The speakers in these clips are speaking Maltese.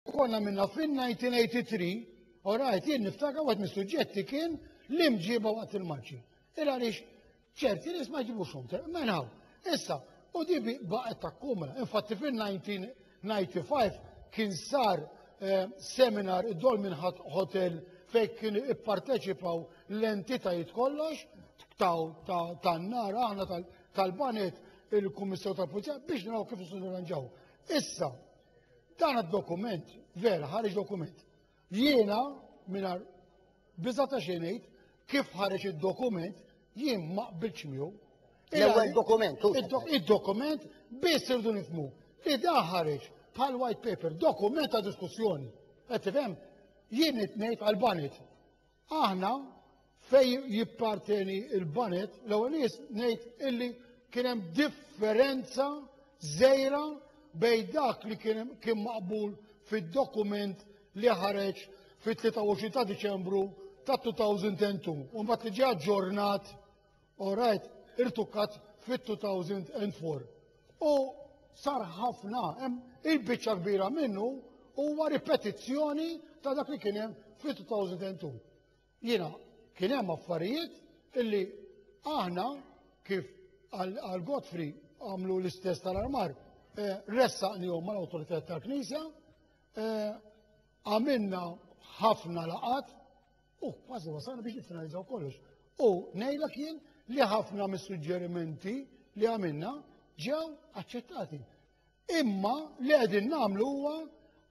Konna minna fin-1983, u rajt jien niftaka għat mis-suġġetti kien l-imġiba waqt il-marċi. Il għaliex ċerti nies ma jġibux xum, menħaw. Issa, u di baqgħet ta' kumra. Infatti fil-1995 kien sar eh, seminar id-Dolmin Hotel fejn kien ipparteċipaw l-entitajiet kollox tan-nar aħna tal-banet il-Kummissar tal-Pulizija biex naraw kif nirranġaw. Issa, Dan id-dokument, vera, ħareġ dokument. Jiena, minar biza ta' xenejt, kif ħareġ id-dokument, jien ma qbilx miegħu. L-ewwel dokument, Id-dokument biss irdu nifmu. Li da ħareġ bħal white paper, dokument ta' diskussjoni. Qed tifhem? Jien qed ngħid għal-banet. Aħna fej jipparteni il-banet, l-ewwel nies ngħid illi kien hemm differenza żejra bejn dak li kien maqbul fid-dokument li ħareġ fit-23 ta' Diċembru ta' 2002 u mbagħad li ġie aġġornat All right, irtukat fit-2004. U sar ħafna, il-biċċa kbira minnu huwa ripetizzjoni ta' dak li kien hemm fit-2002. Jiena kien hemm affarijiet illi aħna kif għal Godfrey għamlu l-istess tal-armar, eh, ressaqnihom mal-awtoritajiet tal-Knisja, eh, għamilna ħafna laqat U kważi wasalna biex niffinalizzaw kollox. U ngħidlek jien li ħafna mis-suġġerimenti li għamilna ġew aċċettati. Imma li qegħdin nagħmlu huwa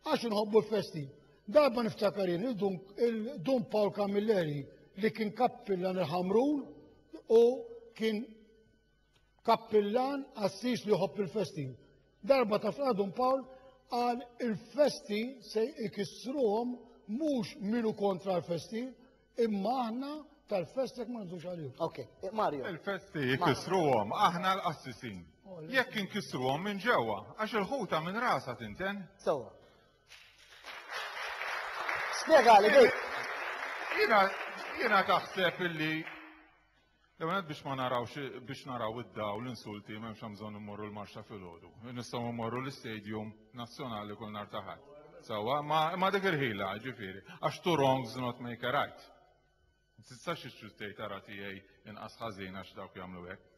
għax inħobbu l-festi. Darba niftakarin il-Dun Paul Camilleri li kien kappillan il-Ħamrun u kien kappillan qassis li jħobb il-festi. Darba ta' fl-għadun Pawl għal il-festi se ikissruhom mhux minu kontra l-festi, imma aħna tal-festi ma nżux għalihom. Ok, eh, Mario. Il-festi jkissruhom aħna l-qassisin. Oh, Jekk inkissruhom minn ġewwa, għax il-ħuta minn rasa tinten. Sewa. Spjegali, dik. Jiena taħseb illi L-għanet biex ma narawx biex naraw id-dawl insulti m'hemmx hemm bżonn immorru l-marxa filgħodu. Nistgħu mmorru l-istadium nazzjonali kull nar ta' ħadd. Sewwa, ma, ma dik il-ħila, ġifieri, għax two wrongs not make a right. Ma tistax ixtri tgħid ara tiegħi inqas ħażin għax dawk jagħmlu hekk.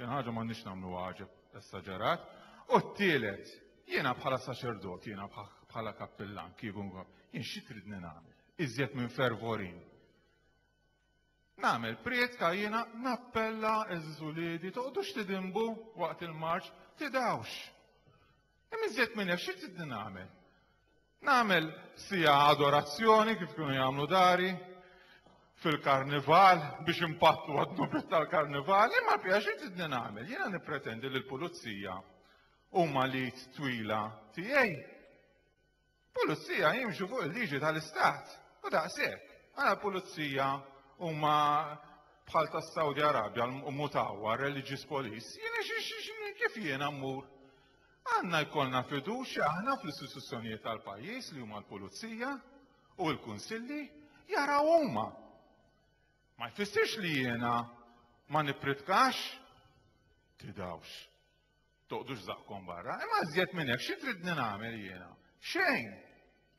Din ħaġa m'għandniex nagħmlu għaġeb essaġerat. U t-tielet, jiena bħala saċerdot, jiena bħala kappillan, kieku jien xi tridni nagħmel? Iżjed minn fervorin Nagħmel prietka jiena nappella għeżież uliedi toqgħodux tidinbu waqt il-marċ, tidgħux. Imma iżjed minn hekk xi tridni nagħmel? Nagħmel sija adorazzjoni kif kienu jagħmlu dari fil-karnival biex impattu għad-dubit tal-karnival, imma bija xi tridni nagħmel? Jiena nippretendi li l-pulizija huma lid twila tiegħi. Pulizija jimxu fuq il-liġi tal-istat u daqshekk. Għala pulizija huma bħal tas-Saudi Arabja mutawa religious police. Jiena kif jiena mmur? Għandna jkollna fiduċja aħna fl-istituzzjonijiet tal-pajjiż li huma l-pulizija u l-kunsilli jaraw huma. Ma jfissirx li jiena ma nippritkax tidawx. Toqdux żaqqkom barra. Imma żjed minn hekk xi tridni nagħmel jiena? Xejn!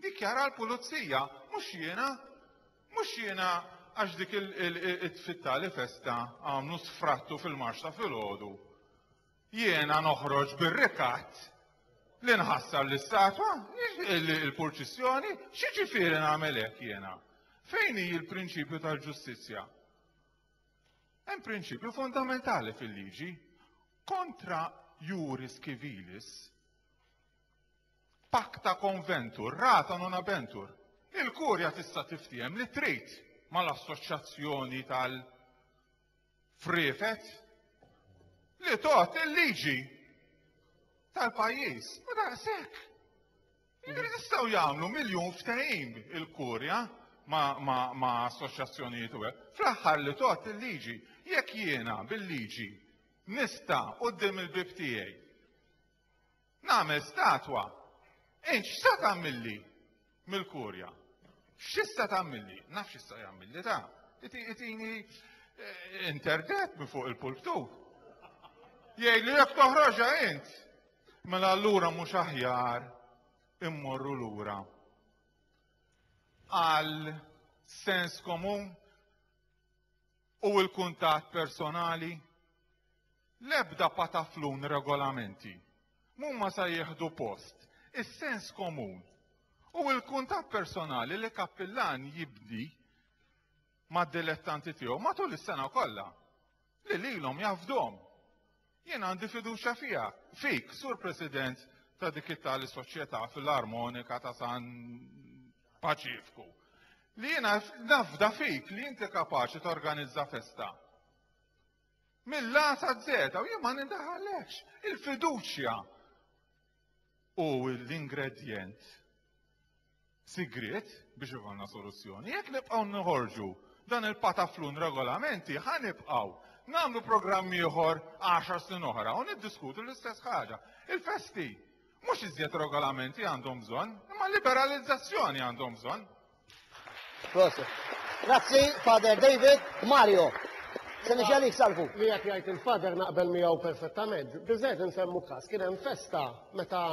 Dikjara l-pulizija, mhux jiena. Mhux jiena għax dik it-tfittali festa għamlu sfrattu fil-marx ta' filgħodu. Jiena noħroġ bir-rikatt li nħassar l-istatwa, il-purċissjoni, xi ġifieri nagħmel hekk jiena? Fejn hi l-prinċipju tal-ġustizzja? Hemm prinċipju fondamentali fil-liġi kontra juris civilis pacta conventur, rata non abentur. Il-kurja tista' tiftiehem li trid mal-assoċjazzjoni tal frifet li tot il-liġi tal-pajjiż. U daqshekk. Jistgħu jagħmlu miljun ftehim il-kurja ma' assoċjazzjonijiet u hekk. Fl-aħħar li tgħodd il-liġi, jekk jiena bil-liġi nista' quddiem il-bieb tiegħi nagħmel statwa, int x'sa tagħmilli mill-kurja? X'issa tagħmilli? Naf x'issa jagħmilli ta' itini eh, interdet minn fuq il-pulptu. Jgħid li jekk toħroġha int, Mela allura mhux aħjar immorru lura għal sens komun u l-kuntatt personali? L-ebda pataflun regolamenti mumma sa jieħdu post is-sens komun u l-kuntatt personali li kappillan jibdi mad-dilettanti tiegħu matul is-sena kollha. li lilhom jafdhom. Jien għandi fiduċja fiha, fik, Sur President ta' dik it-tali soċjetà filarmonika ta' San Paċifku, li jiena nafda fik li inti kapaċi torganizza festa. Mill-lata zeta, u jien ma nindaħalekx, il-fiduċja u l-ingredjent sigriet biex ikollna soluzzjoni. Jekk nibqgħu noħorġu dan il-pataflun regolamenti, ħa nibqgħu nagħmlu programm ieħor 10 snin oħra u niddiskutu l-istess ħaġa. Il-festi mhux iżjed regolamenti għandhom bżonn, imma liberalizzazzjoni għandhom bżonn. Grazzi, Father David. Mario, se nixi għalik salvu. Li jek jgħid il-Father naqbel miegħu perfettament. Biżgħet insemmu każ, kien hemm festa meta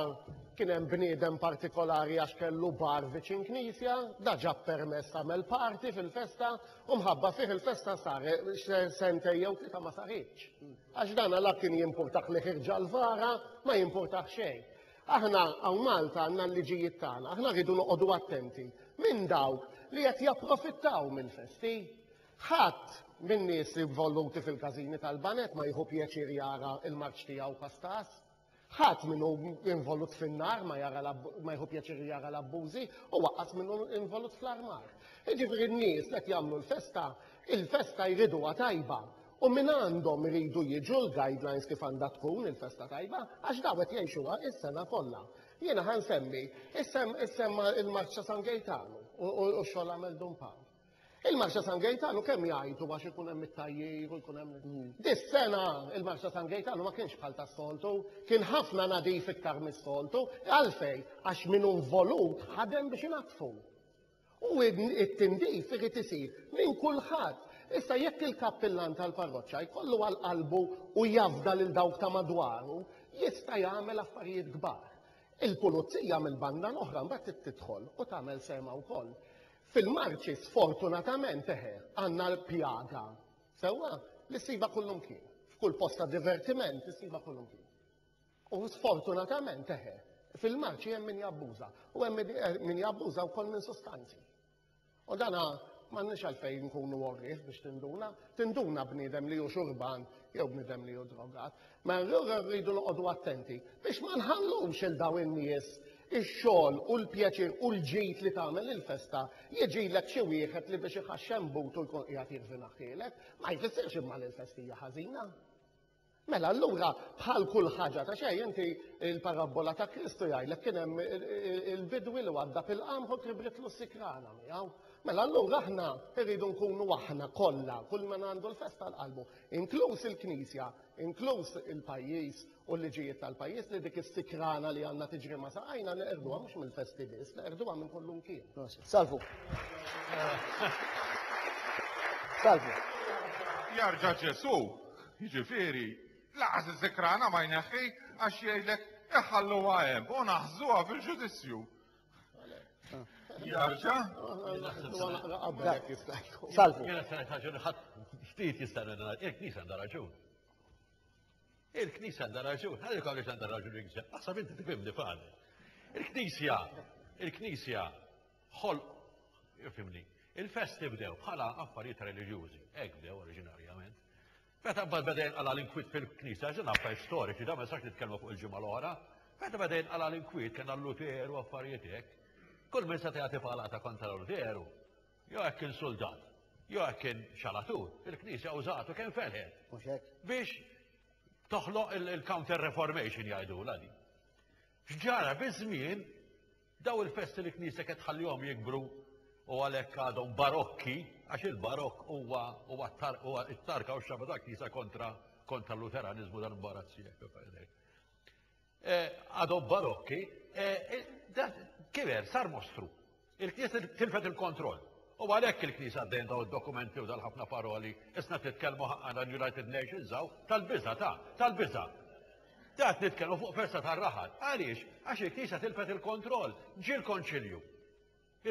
Kien hemm bniedem partikolari għax kellu bar viċin knisja, da ġab permess għamel party fil-festa u mħabba fih il-festa sar sentej jew tlieta ma saritx. Għax dana la kien jimpurtah li ħirġa l-vara, ma jimpurtah xejn. Aħna hawn Malta għandna l-liġijiet tagħna, aħna rridu noqogħdu attenti minn dawk li qed japprofittaw mill-festi. Ħadd min-nies involuti fil-każini tal-baned ma jieħu pjaċir jara l-marċ tiegħu pastas. Ħadd min hu involut fin-nar ma jara ma jieħu pjaċir jara l-abbużi, u aqqas min hu involut fl-armar. Jiġifieri n-nies li qed jagħmlu l-festa, il-festa jriduha tajba, u mingħandhom iridu jiġu l-guidelines kif għandha tkun il-festa tajba, għax dawn qed jgħixuha s-sena kollha. Jiena ħa nsemmi, issemma l-Marċ ta' San Gejtanu u x-xogħol għamel Dun Pawl. Il-Marsa San Gejtanu kemm jgħajtu għax ikun hemm it-tajjir u jkun hemm. Dis-sena il-Marsa San Gejtanu ma kienx bħal tas-soltu, kien ħafna nadif iktar mis-soltu. Għalfejn? Għax min hu involut ħadem biex inaddfu. U t-tindif irid isir minn kulħadd. Issa jekk il-kappillan tal-parroċċa jkollu għal qalbu u jafda lil dawk ta' madwaru, jista' jagħmel affarijiet kbar. Il-pulizija mill-banda l-oħra mbagħad trid tidħol u tagħmel sehemha wkoll. Fil-Marche sfortunatament eħe, għandna l-pjaga, sewwa, li ssibha kullumkien. F'kull post ta' divertiment issibha kullumkien. U sfortunatament eħe, fil-Marche hemm min jabbuża u hemm min jabbuża wkoll minn sustanzi. U dana m'għandniex għalfejn nkunu għorrief biex tinduna, tinduna bniedem li hu xurban jew bniedem li hu drogat. Mela allura rridu noqogħdu attenti biex ma nħallux il daw in-nies ix-xogħol u l-pjaċir u l-ġid li tagħmel il-festa jiġilek xi wieħed li biex iħaxxem but u jkun qiegħed jirvinaħħielek, ma jfissirx imma li l-festa hija ħażina. Mela allura bħal kull ħaġa ta' xejn inti il-parabbola ta' Kristu jgħidlek kien hemm il-bidwi li għadda fil-qamħ u tribritlu sikrana miegħu. Mela allura aħna rridu nkunu aħna kollha kull man għandu l-festa l-qalbu, inkluż il-Knisja, inkluż il-pajjiż u l-liġijiet tal-pajjiż, li dik is-sikrana li għandna tiġri ma' saqajna neqerduha mhux mill-festi biss, neqerduha minn kull imkien. Salvu. Salvu. Jarġa' Ġesu, jiġifieri, laqas is-sikrana ma jneħħi għax jgħidlek iħalluha hemm u naħżuha fil-ġudizzju. Jarġa? Salvu. Jena s-sanet ħagġun ħat ftit jistan għandana, il-knisa għanda raġun. Il-knisa għanda raġun, għalli kħalli għanda raġun il-knisa, għasab inti tifimni fani. Il-knisja, il-knisja, ħol, fimni, il-festi bdew bħala affarijiet religjużi, ek bdew oriġinarjament. Meta mbagħad beda jinqala' l-inkwiet fil-Knisja, għax din affarijiet storiċi, da ma nistax nitkellmu fuq il-ġimgħa l-oħra, meta beda jinqala' l-inkwiet kien għal Luteru affarijiet hekk, kull min seta' jagħti palata kontra Luteru, jew hekk kien suldat, jew hekk kien xalatur, il-Knisja użatu kemm felħet. Mhux hekk? Biex toħloq il-counter reformation jgħidulha din. X'ġara biż-żmien Dawn il-festi li knisja qed tħallihom jikbru u għalhekk għadhom barokki, għax il-barokk huwa huwa t-tarka u x-xabba ta' knisja kontra kontra l-Luteraniżmu dan imbarazzi eh, Għadhom barokki, eh, eh, kiber, sar mostru. Il-knisja tilfet il-kontroll. U għalhekk il-knisja għaddejn daw id-dokumenti u dal-ħafna paroli, isna titkellmu ħaqqana l-United Nations għaw tal-biża ta' tal-biża. Tat nitkellmu fuq festa tar-raħal. Għaliex? Għax il-Knisja tilfet il-kontroll. Ġie l-Konċilju.